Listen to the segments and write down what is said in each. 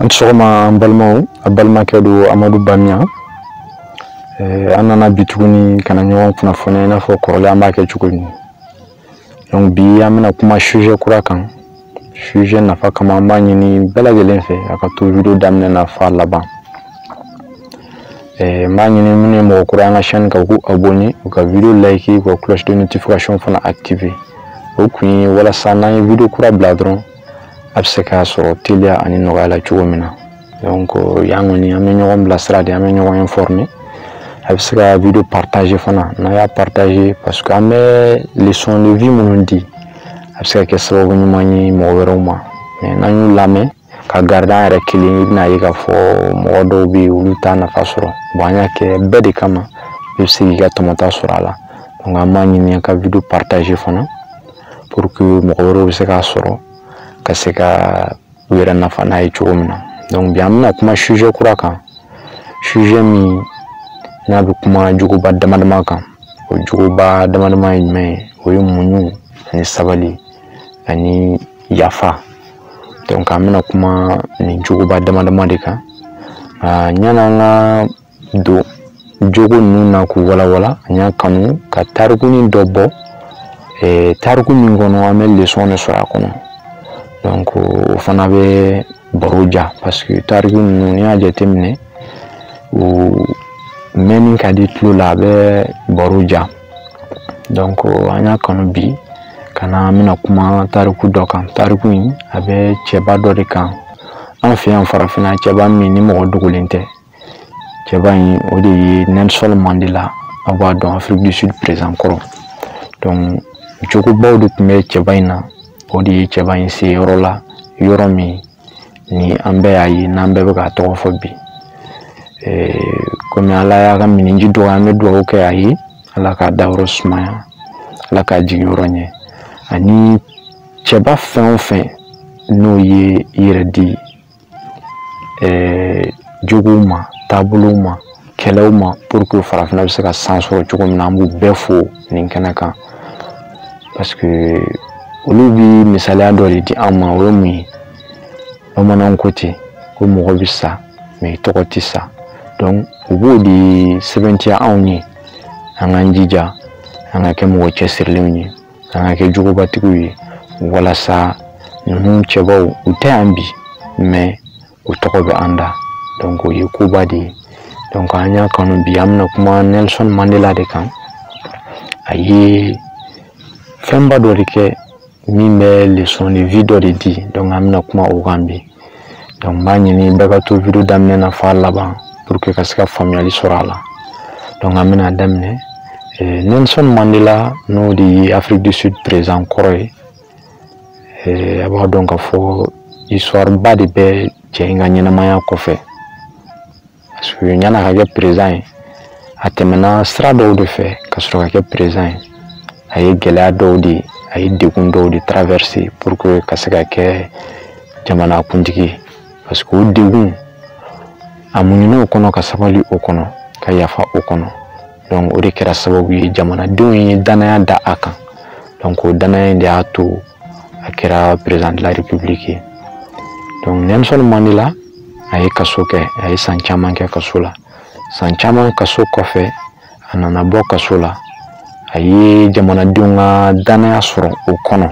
a ni sɔgɔma an balimaw a balimakɛ don amadu bamiya an nana bi tuguni ka na ɲɔgɔn kunnafoniya i n'a fɔ kɔrɔlen an b'a kɛ cogo min donc bi an bɛna kuma sujet kura kan sujet nafa kama an b'a ɲini bɛɛ lajɛlen fɛ a ka to video daminɛ na f'a laban eh, n b'a ɲini minnu ye mɔgɔ kura an ka chaîne kan u k'u abonné u ka video like u ka cloche de notification fana activer o kun ye walasa n'an ye video kura bila dɔrɔn a bɛ se k'a sɔrɔ teliya ani nɔgɔya la cogo min na donc yan kɔni an bɛ ɲɔgɔn bilasira de an bɛ ɲɔgɔn informer a bɛ se ka video partager fana n'a y'a partager parce que an bɛ leçon de vie minnu di a bɛ se ka kɛ sababu ɲuman ye mɔgɔ wɛrɛw ma mais n'an y'u lamɛn ka garder an yɛrɛ kelen i bɛna ye k'a fɔ mɔgɔ dɔw bɛ yen olu t'a nafa sɔrɔ bon an y'a kɛ bɛɛ de kama i bɛ se k'i ka tɔmɔta sɔrɔ a la donc an b'a ɲini ka video partager fana pour que mɔgɔ wɛrɛw bɛ se k'a sɔrɔ ka se ka u yɛrɛ nafa n'a ye cogo min na donc bi an bɛna kuma sujet kura kan sujet min n'a bɛ kuma jogoba dama dama kan o jogoba dama dama ye jumɛn ye o ye muɲu ani sabali ani yafa donc an bɛna kuma nin jogoba dama dama de kan yan'an ka don jogo ninnu na k'u walawala an y'a kanu ka tarikunin dɔ bɔ eh, tariku min kɔnɔ an bɛ leçon de sɔrɔ a kɔnɔ donc o fana bɛ baro diya parce que tariku ninnu n'i y'a jateminɛ u mɛnni ka di tulo la a bɛ baro diya donc an y'a kanu bi ka na an bɛna kuma tariku dɔ kan tariku in a bɛ cɛba dɔ de kan an fɛ yan farafinna cɛba min ni mɔgɔ dogolen tɛ cɛba in o de ye Nelson Mandela aw b'a dɔn Afrique du Sud président kɔrɔ donc jogobaw de tun bɛ cɛba in na o de ye cɛba in se yɔrɔ la yɔrɔ min ni an bɛɛ y'a ye n'an bɛɛ bɛ k'a tɔgɔ fɔ bi komi ala y'a ka minji dɔgɔya an bɛ dugawu kɛ a ye ala k'a dayɔrɔ sumaya ala k'a jigin yɔrɔ ɲɛ ani cɛba fɛn o fɛn n'o ye i yɛrɛ di ɛɛ jogow ma taabolow ma kɛlɛw ma pour que farafinna bɛ se ka san sɔrɔ cogo min na an b'u bɛɛ fo nin kɛnɛ kan parce que olu bɛ misaliya dɔ de di an ma o ye mun ye bamananw ko ten ko mɔgɔ bɛ sa mais i tɔgɔ tɛ sa donc u b'o de sɛbɛntiya anw ye an k'an jija an ka kɛ mɔgɔ cɛsirilenw ye an ka kɛ jogobatigiw ye walasa ninnu cɛbaw u tɛ yan bi mais u tɔgɔ bɛ an da donc o ye koba de ye donc an y'a kanu bi an bɛna kuma nelson mandela de kan a ye fɛnba dɔ de kɛ min bɛ leçon de vie dɔ de di an bɛna kuma o kan bi donc n b'a ɲini bɛɛ ka to video daminɛ na f'a laban pour que ka se ka faamuyali sɔrɔ a la donc an bɛna daminɛ eh, nelson mandela n'o de ye afrique du sud président kɔrɔ ye eh, a b'a dɔn ka fɔ histoire ba de bɛ cɛ in ka ɲɛnamaya kɔfɛ parce que yann'a ka kɛ président ye a tɛmɛna sira dɔw de fɛ ka sɔrɔ ka kɛ président ye a ye gɛlɛya dɔw de a ye degun dɔw de traverser pour que ka se ka kɛ jamana kuntigi ye parce que o degun a muɲuna o kɔnɔ ka sabali o kɔnɔ ka yafa o kɔnɔ donc o de kɛra sababu ye jamanadenw ye danaya da a kan donc o danaya in de y'a to a kɛra président de la république ye donc nelson mandela a ye kaso kɛ a ye san caman kɛ kaso la san caman kaso kɔfɛ a nana bɔ kaso la a ye jamanadenw ka danaya sɔrɔ o kɔnɔ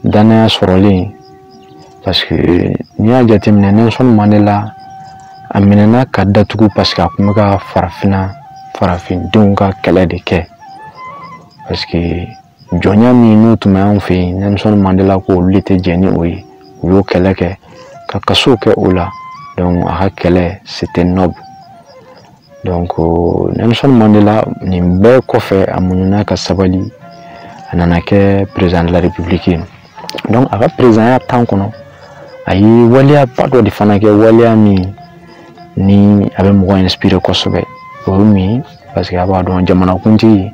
danaya sɔrɔlen parce que n'i y'a jateminɛ nelson mandela a minɛna ka datugu parce que a tun bɛ ka farafinna farafindenw ka kɛlɛ de kɛ parce que jɔnya min n'o tun bɛ anw fɛ yen Nelson mandela ko olu de tɛ jɛn ni o ye u y'o kɛlɛ kɛ ka kaso kɛ o la donc a ka kɛlɛ c'était noble donc Nelson Mandela nin bɛɛ kɔfɛ a muɲuna ka sabali a nana kɛ président de la république ye donc a ka perezidanya temps kɔnɔ a ye waleyaba dɔ de fana kɛ waleya min ni a bɛ mɔgɔ inspire kosɛbɛ o ye mun ye parce que a b'a dɔn jamanakuntigiw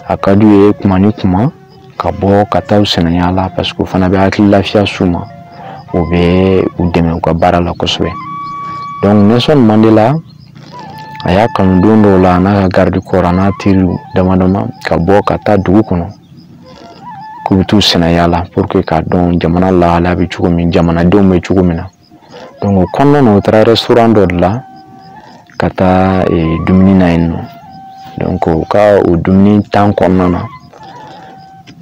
a ka d'u ye tuma ni tuma ka bɔ ka taa u sennayaala parce que o fana bɛ hakili lafiya s'u ma o bɛ u dɛmɛ u ka baara la kosɛbɛ donc nelson mandela a y'a kanu don dɔw la a n'a ka garde-corps a n'a teriw dama dama ka bɔ ka taa dugu kɔnɔ k'u bɛ t'u sennayaala pour que k'a dɔn jamana lahalaya bɛ cogo min jamanadenw bɛ cogo min na donc o kɔnɔna na u taara restaurant dɔ de la ka taa eh, dumuni na yen nɔ donc u ka o dumuni temps kɔnɔna na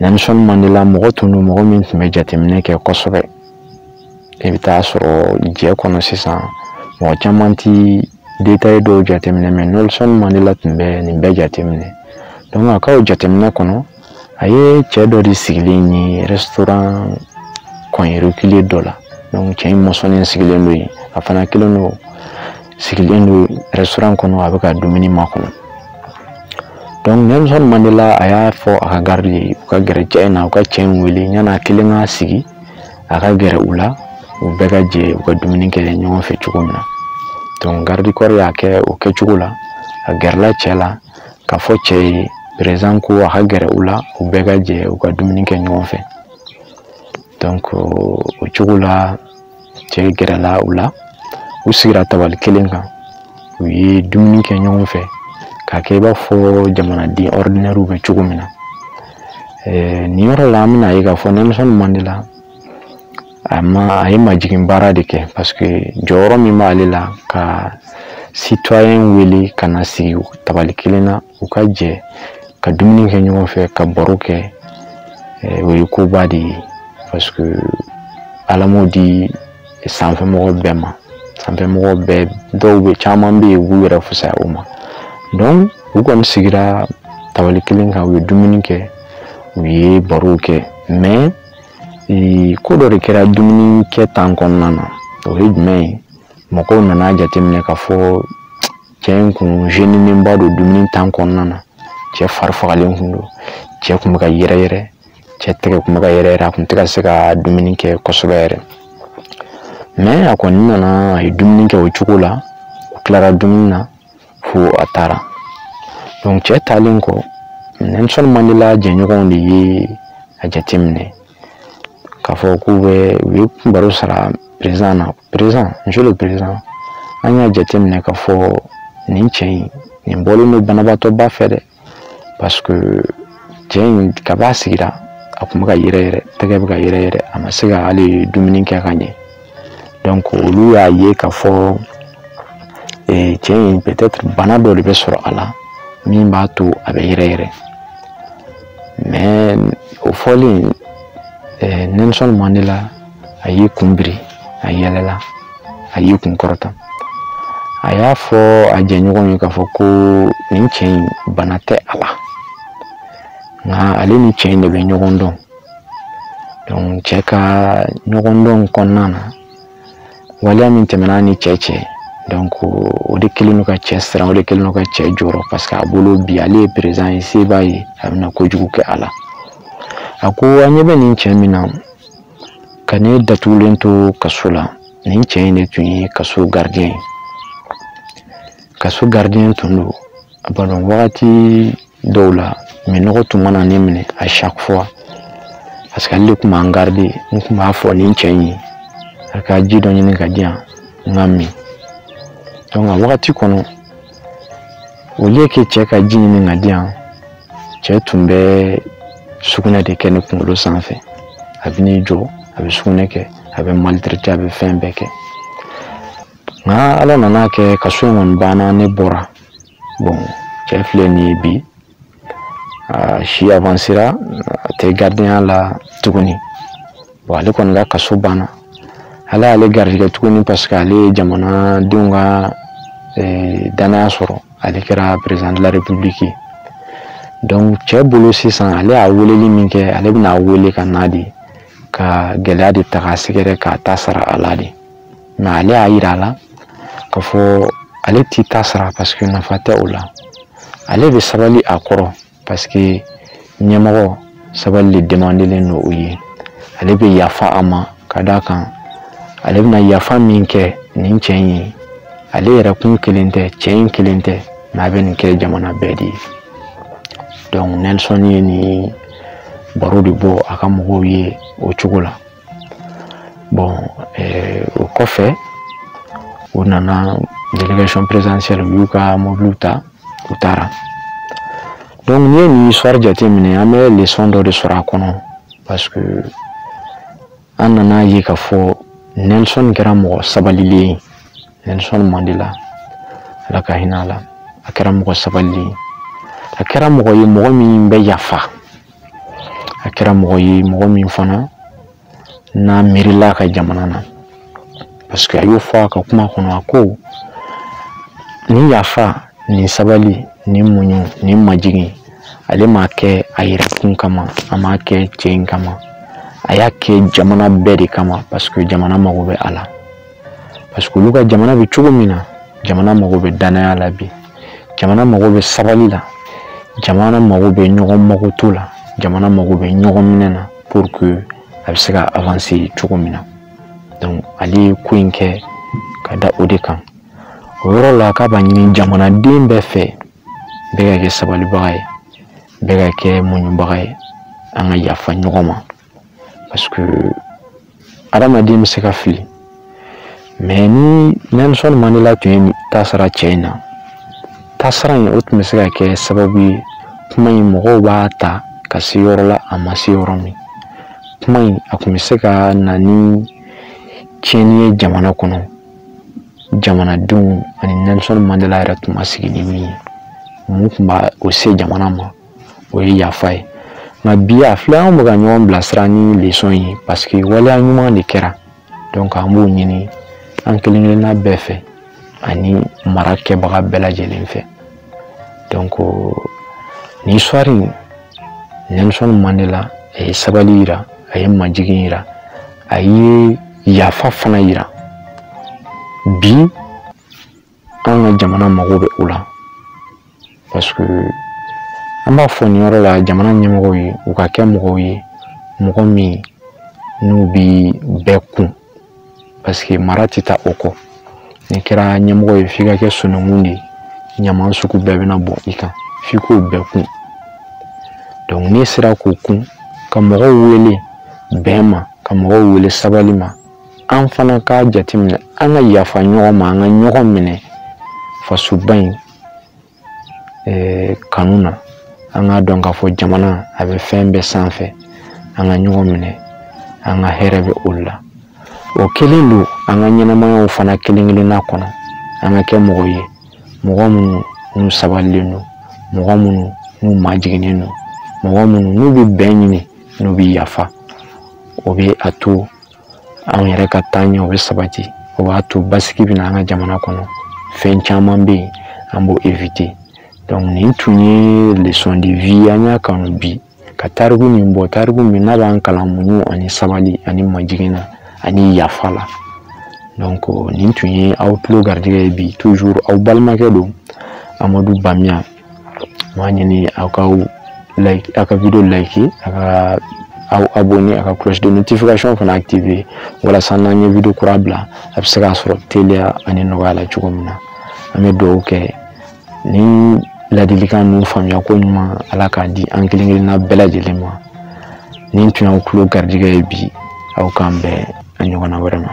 Nelson Mandela mɔgɔ tun don mɔgɔ min tun bɛ jateminɛ kɛ kosɛbɛ i bɛ taa sɔrɔ jɛ kɔnɔ sisan mɔgɔ caman ti detaye dɔw jateminɛ mɛ nelson mandela tun bɛ nin bɛɛ jateminɛ dɔnku a ka jateminɛ kɔnɔ a ye cɛ dɔ de sigilen ye rɛsitoran kɔnɔ yɔrɔ kelen dɔ la dɔnku cɛ in mɔsɔnnen sigilen don yen a fana kelen don sigilen don rɛsitoran kɔnɔ a bɛ ka dumuni makɔnɔ donc nelson mandela a y'a fɔ a ka garidi ye u ka gɛrɛ cɛ in na u ka cɛ in wele yan'a kelen k'a sigi a ka gɛrɛ u la u bɛɛ ka jɛ u ka dumuni kɛ ɲɔgɔn fɛ cogo min na donc garde corps y'a kɛ o kɛcogo la a gɛrɛla cɛ la k'a fɔ cɛ ye perezan ko a ka gɛrɛ u la u bɛɛ ka jɛ u ka dumuni kɛ ɲɔgɔn fɛ donc o cogo la cɛ gɛrɛla u la u sigira tabali kelen kan u ye dumuni kɛ ɲɔgɔn fɛ k'a kɛ i b'a fɔ jamanaden ɔridinɛriw bɛ cogo min na nin yɔrɔ la an bɛn'a ye k'a fɔ nelson mandela a ye majigin baara de kɛ paseke jɔyɔrɔ min b'ale la ka sitɔyɛn wele ka na sigi tabali kelen na u ka jɛ ka dumuni kɛ ɲɔgɔn fɛ ka baro kɛ o ye koba de ye paseke ala m'o di sanfɛ mɔgɔ bɛɛ ma sanfɛ mɔgɔ bɛɛ dɔw bɛ caman bɛ yen u b'u yɛrɛ fusaya o ma u kɔni sigira tabali kelen kan u ye dumuni kɛ u ye barow kɛ ko dɔ de kɛra dumuni kɛ tan kɔnɔna na o ye jumɛn ye mɔgɔw nana a jateminɛ k'a fɔ cɛ in kun zeninba don dumuni tan kɔnɔna na cɛ fari fagalen kun don cɛ kun bɛ ka yɛrɛ yɛrɛ cɛ tɛgɛ kun bɛ ka yɛrɛ yɛrɛ a kun tɛ ka se ka dumuni kɛ kosɛbɛ yɛrɛ mɛ a kɔni nana a ye dumuni kɛ o cogo la u tilara dumuni na fo a taara donc cɛ taalen kɔ nelson mandela jɛɲɔgɔnw de ye a jateminɛ k'a fɔ k'u bɛ u ye baro sara perezan na perezan monsieur le perezan an y'a jateminɛ k'a fɔ nin cɛ in nin bɔlen don banabaatɔba fɛ dɛ paseke cɛ in kab'a sigira a kun bɛ ka yɛrɛ yɛrɛ tɛgɛ bɛ ka yɛrɛ yɛrɛ a ma se ka hali dumuni kɛ ka ɲɛ donc olu y'a ye k'a fɔ eh, cɛ in peut-être bana dɔ de bɛ sɔrɔ a la min b'a to a bɛ yɛrɛ yɛrɛ mais o fɔlen eh, Nelson Mandela a y'i kun biri a yɛlɛla a y'i kun kɔrɔta a y'a fɔ a jɛɲɔgɔn ye k'a fɔ ko nin cɛ in bana tɛ a la nka ale ni cɛ in de bɛ ɲɔgɔn dɔn donc cɛ ka ɲɔgɔn dɔn kɔnɔna na waleya min tɛmɛna a ni cɛ cɛ donc o de kɛlen don ka cɛ siran o de kɛlen don ka cɛ jɔrɔ parce que a bolo bi ale ye perezan ye se b'a ye a bɛna kojugu kɛ a la a ko an ɲɛ bɛ nin cɛ min na ka ne datugulen to kaso la nin cɛ in de tun ye kaso garidiyɛn ye kaso garidiyɛn tun don a b'a dɔn wagati dɔw la minɔgɔ tun mana ne minɛ à chaque fois parce que ale de tun b'an garide n tun b'a fɔ nin cɛ in ye a ka ji dɔ ɲini ka di yan n k'a min donc a wagati kɔnɔ au lieu que cɛ ka ji ɲini ka di yan cɛ tun bɛ sugunɛ de kɛ ne kunkolo sanfɛ a bɛ n'i jɔ a bɛ sugunɛ kɛ a bɛ maltraiter a bɛ fɛn bɛɛ kɛ nka ala nan'a kɛ kaso in kɔni banna ne bɔra bɔn cɛ filɛ nin ye bi a si avansera a tɛ garidiyɛnya la tuguni bon ale kɔni ka kaso banna ala y'ale garijɛgɛ tuguni parce que ale ye jamanadenw ka eh, danaya sɔrɔ ale kɛra président de la république ye donc cɛ bolo sisan ale y'a weleli min kɛ ale bɛn'a wele ka n'a de ka gɛlɛya de ta k'a sɛgɛrɛ k'a ta sara a la de mɛ ale y'a yira a la k'a fɔ ale t'i ta sara paseke nafa tɛ o la ale bɛ sabali a kɔrɔ paseke ɲɛmɔgɔ sabali de demandelen don o ye ale bɛ yafa a ma ka d'a kan ale bɛna yafa min kɛ nin cɛ in ye ale yɛrɛ kun kelen tɛ cɛ in kelen tɛ mɛ a bɛ nin kɛ jamana bɛɛ de ye donc nelson ye nin baro de bɔ a ka mɔgɔw ye o cogo la bɔn eh, o kɔfɛ u nana délégation présidentielle u y'u ka mobiliw ta u taara donc n'i ye nin histoire jateminɛ an bɛ leçon dɔ de sɔrɔ a kɔnɔ parce que an nana ye k'a fɔ nelson kɛra mɔgɔ sabalilen ye nelson mandela ala ka hinɛ a la a kɛra mɔgɔ sabalilen ye a kɛra mɔgɔ ye mɔgɔ min bɛ yafa a kɛra mɔgɔ ye mɔgɔ min fana n'a miirila a ka jamana na parce que a y'o fɔ a ka kuma kɔnɔ a ko nin yafa nin sabali nin muɲu nin majigin ale m'a kɛ a yɛrɛ kun kama a m'a kɛ cɛ in kama a y'a kɛ jamana bɛɛ de kama parce que jamana mago bɛ a la parce que olu ka jamana bɛ cogo min na jamana mago bɛ danaya la bi jamana mago bɛ sabali la jamana mago bɛ ɲɔgɔn makoto la jamana mago bɛ ɲɔgɔn minɛ na pour que a bɛ se ka avancer cogo min na donc ale ye ko in kɛ ka da o de kan o yɔrɔ la k'a b'a ɲini jamanaden bɛɛ fɛ bɛɛ ka kɛ sabalibaga ye bɛɛ ka kɛ muɲubaga ye an ka yafa ɲɔgɔn ma parce que adamaden bɛ se ka fili mais ni nelson mandela tun y'i ta sara cɛ in na tasara in o tun bɛ se ka kɛ sababu ye kuma in mɔgɔw b'a ta ka se yɔrɔ la a ma se yɔrɔ min kuma in a tun bɛ se ka na ni tiɲɛni ye jamana kɔnɔ jamanadenw ani nelson mandela yɛrɛ tun ma sigi ni min ye mun tun b'a o se jamana ma o ye yafa ye nka bi a filɛ anw bɛ ka ɲɔgɔn bilasira ni leçon ye parce que waleya ɲuman de kɛra an b'o ɲini an kelen kelenna bɛɛ fɛ ani marakɛbaga bɛɛ lajɛlen fɛ nin histoire in Nelson Mandela a ye sabali yira a ye majigin yira a ye yafa fana yira bi anw ka jamana mago bɛ o la parce que an b'a fɔ nin yɔrɔ la jamana ɲɛmɔgɔw ye u ka kɛ mɔgɔw ye mɔgɔ min n'u bi bɛɛ kun parce que mara tɛ taa o kɔ n'i kɛra ɲɛmɔgɔ ye f'i ka kɛ sununkun de ye ɲaman sugu bɛɛ bɛna bɔ i kan f'i k'o bɛɛ kun n'i sera k'o kun ka mɔgɔw wele bɛn ma ka mɔgɔw wele sabali ma an fana k'a jateminɛ an ka yafa ɲɔgɔn ma an ka ɲɔgɔn minɛ fasoba in eh, kanu na an k'a dɔn k'a fɔ jamana a bɛ fɛn bɛɛ sanfɛ an ka ɲɔgɔn minɛ an ka hɛrɛ bɛ olu la o kelen don an ka ɲɛnamayaw fana kelen kelenna kɔnɔ an ka kɛ mɔgɔ ye mɔgɔ minnu n'u sabalilen don mɔgɔ minnu n'u majiginnen don mɔgɔ minnu n'u bɛ bɛn ɲini n'u bɛ yafa o bɛ a to anw yɛrɛ ka taaɲɛ o bɛ sabati o b'a to basigi bɛ na an ka jamana kɔnɔ fɛn caman bɛ yen an b'o éviter nin tun ye leçon de vie an y'a kanu bi ka tariku min bɔ tariku min n'a b'an kalan muɲu ani sabali ani majigin na ani yafa la nin tun ye aw tulo garijɛgɛ ye bi toujours aw balimakɛ don amadu bamiya m'a ɲini aw ka like aw ka video like aw k'aw abonné a ka cloche de notification fana activé walasa n'an ye video kura bila a bɛ se k'a sɔrɔ teliya ani nɔgɔya la cogo min na an bɛ dugawu kɛ ni ladilikan ninnu faamuya ko ɲuman ala k'a di an kelen kelenna bɛɛ lajɛlen ma nin tun y'aw tulo garijɛgɛ ye bi aw k'an bɛn a ɲɔgɔnna wɛrɛ ma